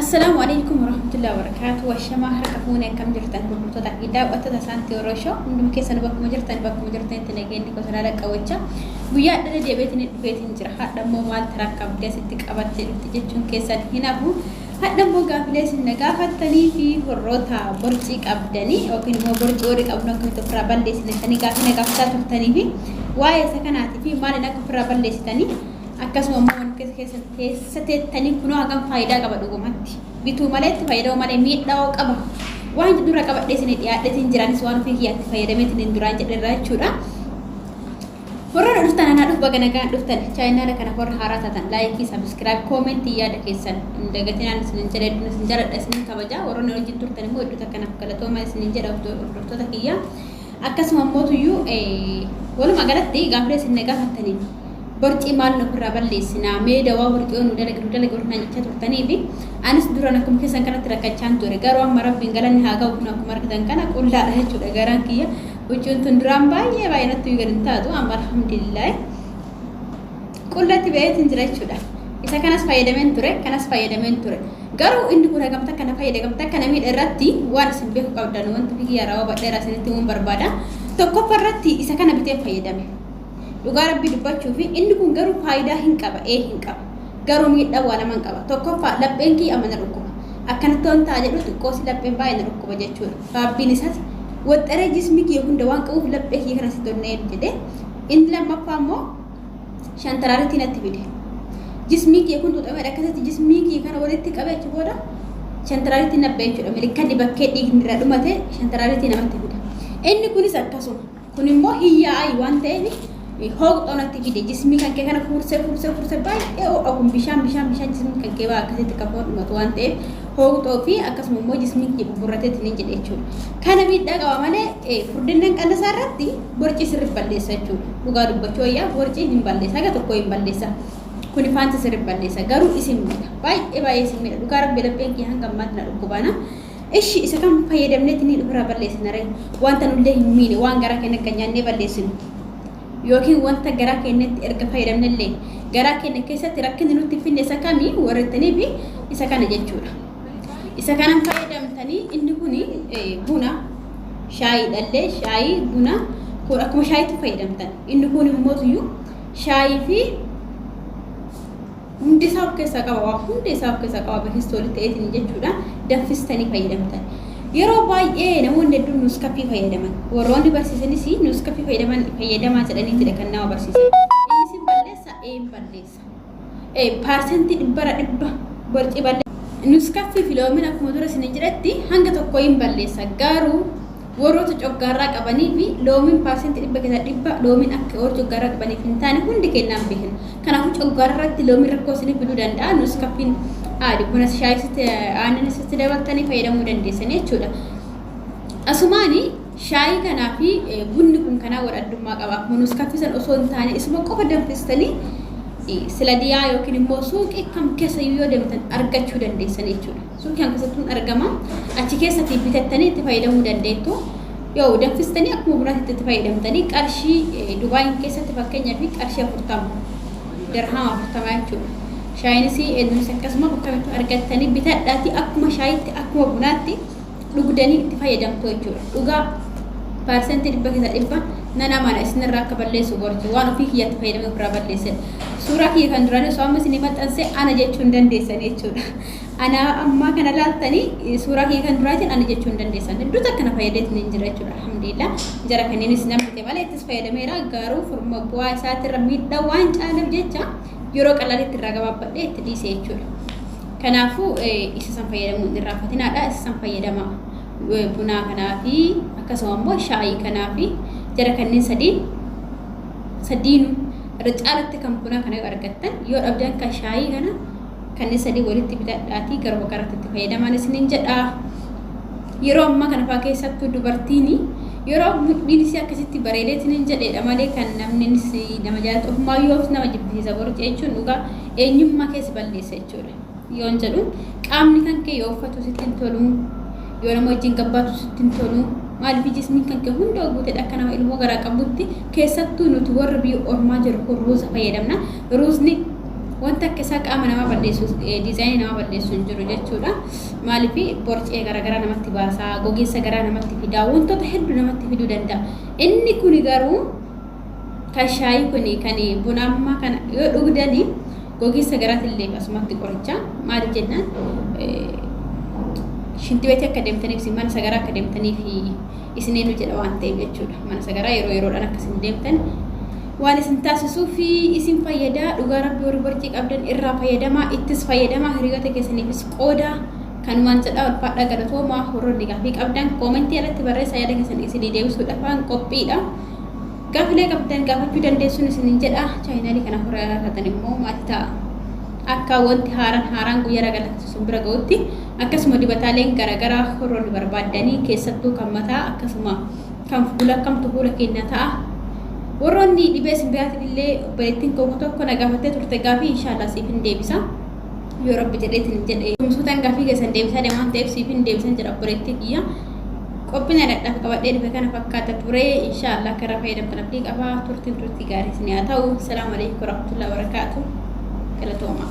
Assalaamu Aleeykum Warahmatullahi Wabarakaatuh Washamaa harka fuune akkam jirtan gurgurtoota fi daawwattoota Saantii Oro Show hundum keessan bakkuma jirtan bakkuma jirtanitti nageenyi gosa laala qabacha guyyaa dhara deebiitiin dhufeetiin jira hadha immoo maal taraakka abdee sitti qabattee dhufti jechuun keessan hin hafu hadha immoo gaafilee isin na gaafattanii fi warroota borcii qabdanii yookiin immoo borcii warri qabnu akkamitti ofirraa balleessitanii gaafii na gaafataa turtanii fi waa'ee isa kanaatii fi maaliin akka ofirraa balleessitanii Akkasuma immoo wanni keessa keessa keessa teettanii kunoo hagam faayidaa qaba dhugumatti. Bituu malee itti fayyadamuu malee miidhaa qaba. Waan dura qabadhee isin dhiyaadheetiin jiraanis waan ofii kiyyaatti fayyadameetiin hin duraan jedherraa jechuudha. Warra na dhuftan anaa dhuf baga nagaan dhuftan chaayinaala kana warra haaraa taatan laayikii sabiskiraayib koomentii yaada keessan hin dagatinaan isin jedha hedduun isin jaladha isin kabaja warroonni wajjin turtan immoo hedduu takka naaf galatooma isin jedha hordoftoota kiyyaa. Akkasuma immoo tuyyuu walumaa galatti gaafilee isin na gaafattaniif borcii maal nu ofirraa balleessinaa mee dawaa borcii yoo nu dalagi nu dalagi warri naan jechaa turtanii fi anis duraan akkuma keessan kanatti rakkachaan ture garuu amma rabbiin galanni haa ga'u kun akkuma argitan kana qullaadha jechuudha garaan kiyya huccuun tun duraan baay'ee baay'ee natti gad hin taatu amma alhamdulillah Qullatti ba'eetiin jira jechuudha. Isa kanas fayyadameen ture, kanas fayyadameen ture. Garuu inni kun hagamta kana fayyada, hagamta kana miidha irratti waan isin beeku qabdan wanti biyya yeroo badheeraa isinitti himuun barbaada. Tokkoffa irratti isa kana biteen fayyadame. Dhugaa rabbii dubbachuu fi inni kun garuu faayidaa hin qaba, ee hin qaba. Garuu miidhaa waa lama hin qaba. Tokkoffaa lapheen kiyya amma na dhukkuba. Akkanatti waan ta'a jedhu xiqqoosi lapheen baay'ee na dhukkuba jechuudha. Sababiin isaas waxxaree jismii kiyya hunda waan qabuuf laphee kiyya kana sitti onnee jedhee inni lammaffaa immoo shantaraaritti natti fide jismii kee kun xuxameedha akkasitti jismii kee kana walitti qabe achi booda shantaraaritti nabbe jechuudha milikkanni bakkee dhiigni irraa dhumate shantaraaritti namatti fida inni kunis akkasuma kun immoo hiyyaa'ayi waan ta'eef hooqxoo natti fide jismii kan kee kana fuursee fuursee fuursee baay'ee ho'a kun bishaan bishaan bishaan jismii kan kee baa akkasitti kan foon dhumatu waan ta'eef hooqxoo fi akkasuma immoo jismii kee buburrateetti ni jedhe jechuudha kana miidhaa qaba malee furdinnan qannasaa irratti Borcii sirrif balleessa jechuudha. Dhugaa dubbachuu wayyaa borcii hin balleessa. Haga tokko hin balleessa. Kuni faanti sirrif balleessa. Garuu isin miidha. Baay'ee baay'ee isin miidha. Dhugaa rabbi lapheen kiyya hanga ammaatti na dhukkubaana. Ishi isa kam fayyadamnetti ni ofirraa balleessina ree? Wanta nullee hin miine waan garaa keenya akka nyaannee balleessinu. Yookiin wanta garaa keenyatti erga fayyadamnellee garaa keenya keessatti rakkinni nutti hin finne isa kami warrettanii fi isa kana jechuudha. Isa kanan fayyadamtanii inni kuni buna shaayii dhallee shaayii buna kun akkuma shaayiitti fayyadamtan inni kun immoo tuyyu shaayii fi hundi isaa of keessaa qaba waa hunda isaa of keessaa qaba biristoolii ta'eetiin jechuudha danfistanii fayyadamtan yeroo baay'ee namoonni hedduun nuuskafii fayyadaman warroonni barsiisanis nuuskafii fayyadaman fayyadamaa jedhaniitidha kan nama barsiisan innis hin balleessa ee hin balleessa paarsentii dhibbara dhibba borcii balleessa. Nuskaffii fi loomiin akkuma dura isin jedhetti hanga tokko hin balleessa garuu warroota coggaarraa qabanii fi loomiin paarsentii dhibba keessaa dhibba loomiin akka warra coggaarraa qabaniif hin taane hundi kennaan beekna. Kanaafuu coggaarraa irratti loomiin rakkoo isiniif fiduu danda'a. Nuskaffiin aadi buna shaayii aannan isatti dabaltanii fayyadamuu dandeessan jechuudha. Asumaanii Shaayii kanaa fi bunni kun kanaa wal addummaa qaba. Akkuma nus kaffisan osoo hin taane isuma qofa danfistanii sila diyaa yookiin immoo suuqii kam keessayyuu yoo deemtan argachuu dandeessan jechuudha. Suuqii kam keessattuu hin argama. Achi keessatti bitattanii itti fayyadamuu dandeettu. Yoo danfistanii akkuma bunaatti itti fayyadamtanii qarshii Dubaayiin keessatti fakkeenyaa fi qarshii afurtama dirhama afurtama jechuudha. Shaayiinis eenyunis akkasuma bakka kamittuu argattanii bitadhaatii akkuma shaayiitti akkuma bunaatti dhugdanii itti fayyadamtu jechuudha. Dhugaa parsentii dhibba keessa dhibba nan amana isinirraa akka balleessu gorti waan ofii kiyyatti fayyadamee ofirraa balleessan. Suuraa kiyya kan duraanii osoo amma isin maxxanse ana jechuu hin dandeessan jechuudha. Ana ammaa kana laaltanii suuraa kiyya kan duraatiin ana jechuu hin dandeessan. Hedduutu akkana fayyadee isin hin jira jechuudha. Alhamdulillah jara kanneenis nan fite malee ittis fayyadameera garuu furma bu'aa isaatirra miidhaa waan caaleef jecha yeroo qalaalitti irraa gabaabbadhee itti dhiise jechuudha. Kanaafuu isa san fayyadamuun hin irraanfatinaadha. Isa san fayyadamaa. Bunaa kanaa fi akkasuma immoo shaayii kanaa fi jara kanneen sadii sadiinu irra caalatti kan bunaa kana yoo argattan yoo dhabdan kan shaayii kana kanneen sadii walitti bitadhaatii garuma garatti itti fayyadamaan isiniin jedha. Yeroo ammaa kana fa'aa keessattuu dubartiin yeroo mudhiin isii akkasitti bareedee isiniin jedheedha malee kan namni nama jaalatu ofumaa yoo nama jibbisiisa borci jechuun dhugaa eenyummaa keessa balleessa. jechuudha. Yoon jedhu qaamni kan kee yoo uffatu sitti hin tolu, yoo nama wajjin gabbaatu sitti hin tolu, maaliif jismiin kan kee hunda guutedha akka nama ilmoo garaa qabutti keessattuu nuti warri biyya ormaa jiru kun ruuza fayyadamna. Ruuzni wanta akka isaa qaama namaa balleessu diizaayinii namaa balleessu hin jiru jechuudha. Maaliif borcee garaagaraa namatti baasaa, gogeessa garaa namatti fidaa, wantoota hedduu namatti fiduu danda'a. Inni kun garuu kan shaayii kun kan buna ammaa kana yoo dhugdani gogiinsa garaatillee asumatti qoricha maali jennaan shinti beetii akka deemtaniif isin mana sagaraa akka deemtaniif isin eenyu jedha waan ta'eef jechuudha mana sagaraa yeroo yeroodhaan akka isin deemtan waan isin taasisuu fi isin fayyadaa dhugaa rabbi warri borcii qabdan irraa fayyadamaa ittis fayyadamaa hiriyoota keessaniifis qoodaa kan waan jedhaa ulfaadhaa galatoomaa warroonni gaafii qabdan koomentii irratti barreessaa yaada keessan isinii deebisuudhaaf waan qophiidha. Gaafilee qabdan gaafachuu dandeessuun isinin jedha. Chaayinaalii kana hore haaraa taatan immoo maati ta'a. Akka wanti haaran haaraan guyya raga lakkiftu sin bira ga'utti akkasuma dibataaleen garagaraa horroo ni barbaaddanii keessattuu kan mataa akkasuma kan fuula kamtu fuula keenya ta'a. Warroonni dhibee isin biraatiin illee obboleettiin koo tokko na gaafattee turte gaafii inshaallah siif hin deebisa. Yoo rabbi jedheetiin hin jedhe. Tumsuutaan gaafii keessan deebisaa deemaan ta'eef siif hin deebisan jedha obboleettii kiyya. Qophiin adadhaaf qabadhee dhufe kana fakkaata ture. Inshaallah akka irraa fayyadamtan abdii qaba. Turtiin turtii gaarii isin haa ta'u. Salaamu alaikum warahmatullahi wabarakaatu. Galatoomaa.